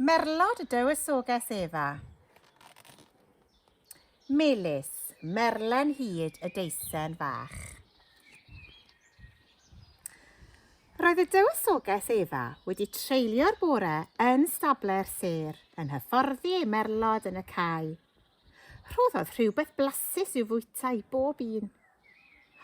Merlod dywysoges Efa. Melys, merlen hyd y deisen fach. Roedd y dywysoges Efa wedi treulio'r bore yn stable'r sêr yn hyfforddi ei merlod yn y cae. Rhoddodd rhywbeth blasus i'w fwyta i bob un.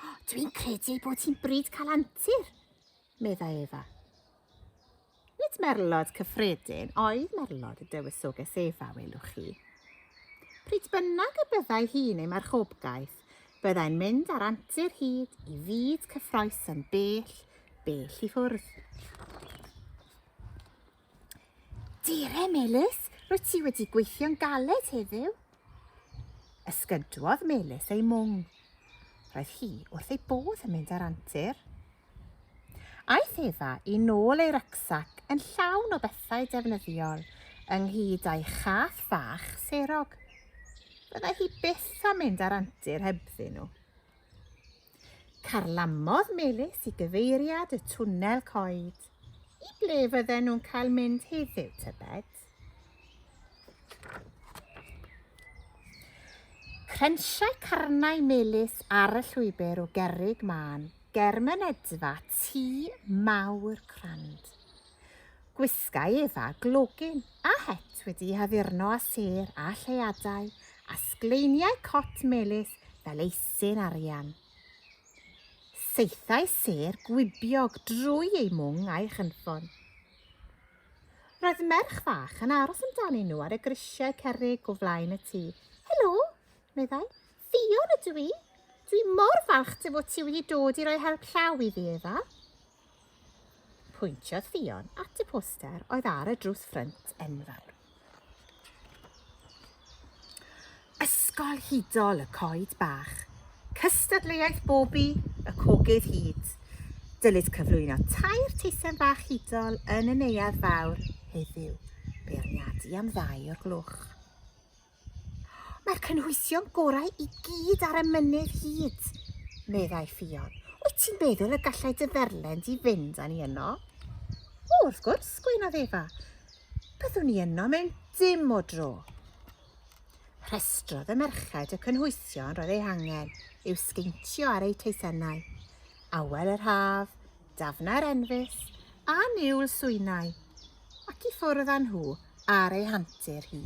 Oh, Dwi'n credu bod ti'n bryd cael antur, meddai Efa. Nid merlod cyffredin oedd merlod y Dywysoges Efa, welwch chi. Pryd bynnag y byddai hi'n ei marchobgaeth, byddai'n mynd ar antur hyd i fyd cyffroes yn bell, bell i ffwrdd. Dire, Melys, rwy ti wedi gweithio'n galed heddiw. Ysgydwodd Melys ei mwng. Roedd hi wrth ei bodd yn mynd â'r antur. Aeth Efa i nôl ei rycsac yn llawn o bethau defnyddiol, ynghyd â'i chath fach serog. Byddai hi byth am mynd â'r antur hebddyn nhw. Carlamodd Melys i gyfeiriad y twnnel coed. I ble fydden nhw'n cael mynd heddiw, tybed? Crensiau carnau Melys ar y llwybr o gerrig mân ger mynedfa tŷ mawr crand. Gwisgai Eva glogyn a het wedi'i haddurno â sêr a lleadau a sgleiniau cot melys fel eisyn arian. Saethai sêr gwibiog drwy ei mwng a'i chynffon. Roedd merch fach yn aros amdanyn nhw ar y grisiau cerrig o flaen y tŷ. Helo, meddai. Ffion ydw i. Dwi mor falch dy fod ti wedi dod i roi help llaw i fi, Eva. Pwyntiodd Ffion at y poster oedd ar y drws ffrynt enfawr. Ysgol hudol y coed bach, cystadleuaeth bobi y cogydd hud. Dylid cyflwyno tair teisen bach hudol yn y neuadd fawr heddiw, beirniadu am ddau o'r gloch. Mae'r cynhwysion gorau i gyd ar y mynydd hyd, meddai Ffion. Wyt ti'n meddwl y gallai dy dderlen di fynd â ni yno? O, wrth gwrs, gweinodd Efa. Byddwn ni yno mewn dim o dro. Rhestrodd y merched y cynhwysion roedd eu hangen i'w sgeintio ar eu teisennau. Awel yr haf, dafnau'r enfys, a niwl swynau. Ac i ffwrdd â nhw ar ei hantur hi.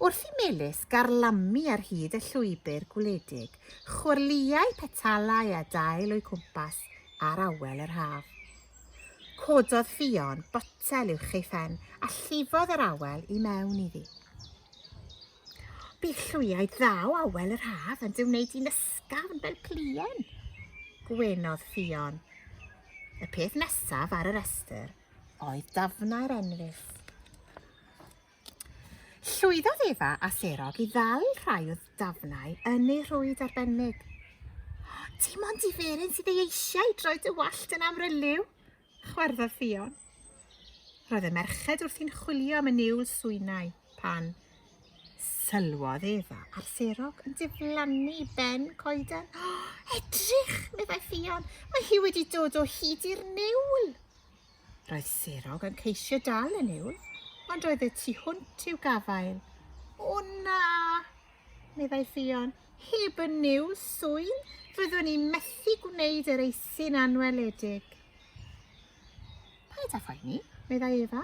Wrth i Melys garlamu ar hyd y llwybr gwledig, chwyrliau petalau a dail o'i cwmpas ar awel yr haf. Cododd Ffion botel uwch ei phen a llifodd yr awel i mewn iddi. Bydd llwyaid dda o awel yr haf yn dy wneud i'n ysgafn fel plien, gwenodd Ffion. Y peth nesaf ar y restr oedd dafnau'r enrif. Llwyddodd Efa a Serog i ddal rhai o dafnau yn ei rhwyd arbennig. Dim ond diferyn sydd ei eisiau droi dy wallt yn amryliw, Chwarddodd Ffion. Roedd y merched wrthi'n chwilio am y niwl swynau pan sylwodd Efa ar Serog yn diflannu ben coeden. Oh, edrych, meddai Ffion, mae hi wedi dod o hyd i'r niwl. Roedd Serog yn ceisio dal y niwl, ond roedd y tu hwnt i'w gafael. O na! Meddai Ffion, heb y new swydd fyddwn i'n methu gwneud yr eisin anweledig. Paid â phoeni, meddai Efa.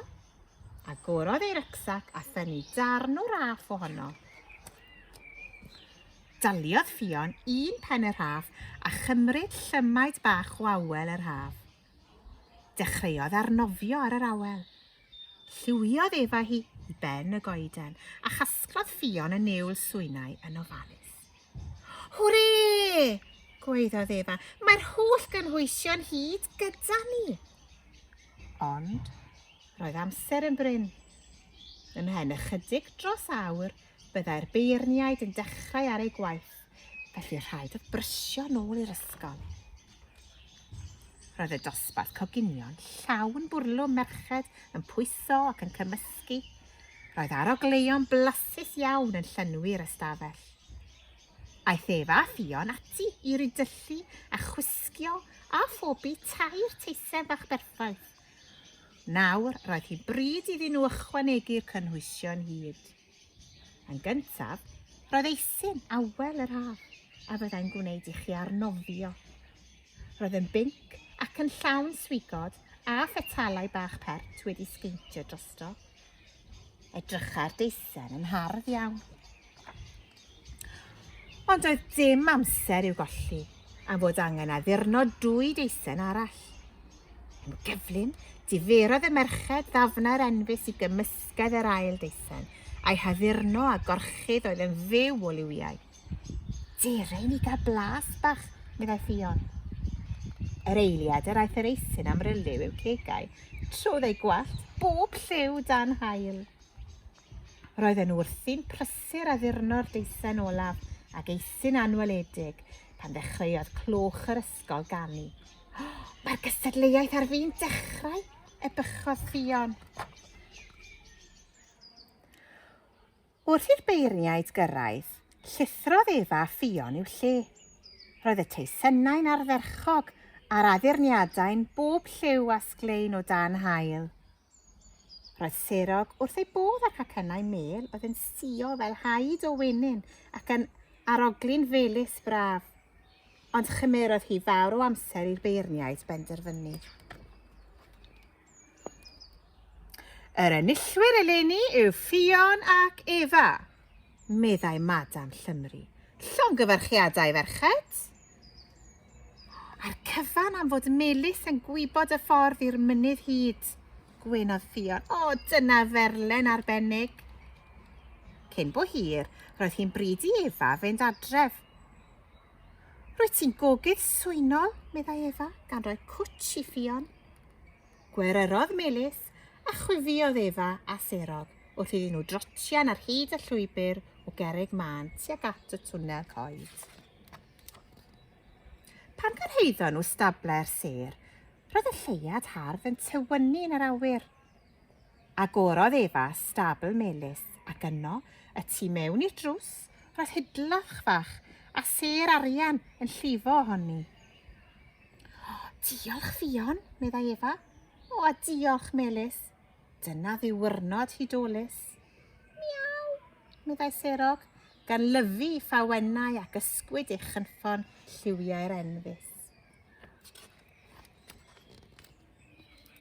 Agorodd ei rycsac a thynnu darn o raff ohono. Daliodd Ffion un pen y rhaff a chymryd llymaid bach o awel yr haf. Dechreuodd arnofio ar yr awel. Lliwiodd efa hi i ben y goeden a chasglodd ffion y niwl swynau yn ofalus. Hwre! gwaeddodd efa, mae'r holl gynhwysion hyd gyda ni. Ond roedd amser yn bryn. Ymhen ychydig dros awr, Byddai'r beirniaid yn dechrau ar eu gwaith, felly rhaid oedd brysio nôl i'r ysgol. Roedd y dosbarth coginion llawn bwrlwm merched yn pwyso ac yn cymysgu. Roedd arogleuon blasus iawn yn llynwy'r ystafell. Aeth Efa a Ffion ati i rydyllu a chwisgio a phobi tair teisen fach berffaith. Nawr, roedd hi bryd iddyn nhw ychwanegu'r cynhwysion hyd. Yn gyntaf, roedd eisin awel yr haf a fyddai'n gwneud i chi arnofio. Roedd yn binc ac yn llawn swigod a phetalau bach pert wedi sgeintio drosto. Edrycha'r deisen yn hardd iawn. Ond oedd dim amser i'w golli am fod angen addurno dwy deisen arall. Yn gyflym, diferodd y merched ddafnau'r enfys i gymysgedd yr ail deisen, a'i haddurno a gorchudd oedd yn fyw o liwiau. Dere i ni gael blas bach, meddai Ffion. Yr eiliad yr aeth yr eithin am ryliw i'w cegau, trodd ei gwallt bob lliw dan hael. Roedden nhw wrthi'n prysur a ddurno'r deisen olaf ag eithin anweledig pan ddechreuodd clwch yr ysgol ganu. Oh, Mae'r gystadleuaeth ar fi'n dechrau, ebychodd Ffion. Wrth i'r beirniaid gyrraedd, llithrodd Eva a Ffion i'w lle. Roedd y teisennau'n ardderchog a'r addurniadau'n bob lliw a sglein o dan haul. Roedd Serog wrth ei bodd â'r cacennau mêl oedd yn sio fel haid o wenyn ac yn arogli'n felys braf. Ond chymerodd hi fawr o amser i'r beirniaid benderfynu. Yr enillwyr eleni yw Ffion ac Efa, meddai Madam Llymru. Llongyfarchiadau, ferched! A'r cyfan am fod Melis yn gwybod y ffordd i'r mynydd hyd, gwenodd Ffion. O, dyna ferlen arbennig! Cyn bo hir, roedd hi'n bryd i Efa fynd adref. Rwyt ti'n gogydd swynol, meddai Efa, gan roi cwtsh i Ffion. Gweryrodd Melys, a chwifiodd Efa a serodd wrth iddyn nhw drotian ar hyd y llwybr o gerrig mân tuag at y twnnel coed. Pan gyrhaeddon nhw stable'r sêr, roedd y lleuad hardd yn tywynnu yn yr awyr. Agorodd Efa stabl melys, ac yno, y tu mewn i'r drws, roedd hidlach fach, a sêr arian yn llifo ohoni. O, diolch, Fion, meddai Efa. O, a diolch, Melys. Dyna ddiwrnod hudolus. Miaw, meddai Serog, gan lyfu ffawennau ac ysgwyd ei chynffon lliwiau'r enfys.